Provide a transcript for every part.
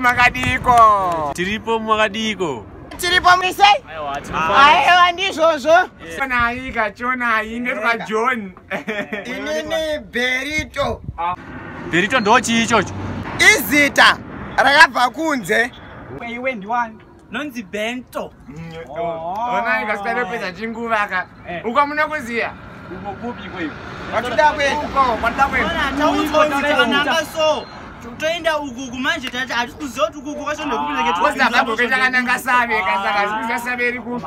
makadiko tiripo makadiko tiripo mise aiwa ndizvozvo chonai kachonai ndetwa john inini berito ah. berito ndochii ichocho izita rakabva kunze iwe ndiwani nonzi bento onai kasikanopedza chinguva ka uko muno kuziya uko kupi kweyo kwatida kweuko kwatida kweyoananga so toenda ukuku manje tati hatisi kuziva kuti ukuku kwacho nekupileketuakananga save kasaka hazikuziva save iri kupi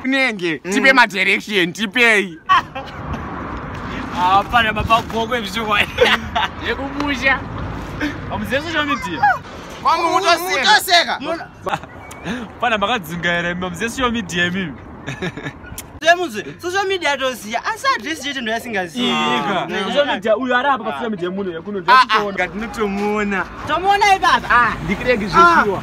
kunenge mm. tipe madirection tipei hapana mapagoko ezvichokwa yekumusha amuzive social media kwamuutoseka pana makadzungaira imi amuzive social media imimi semuzi social media toziya asi adresi chete ndo yasingaziika social media uyo ari apa pasocial media muno yakunondiakutoona tinotomuona tomuona ipapa ndikirege zvechiwa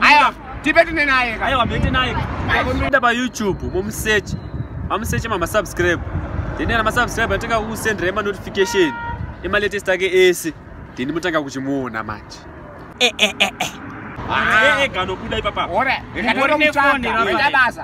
Aya, tipe tine naye. Aya, wamete naye. Aya, pa YouTube, momusearch. Amusearch mama subscribe. Then ana subscribe ataka ku send rema notification. Ema latest ake ese. Then mutanga kuchimuona manje. Eh eh eh eh. Ah, eh eh gano kuda ipapa. Ora. Ngati ora mutsvaka. Ngati basa.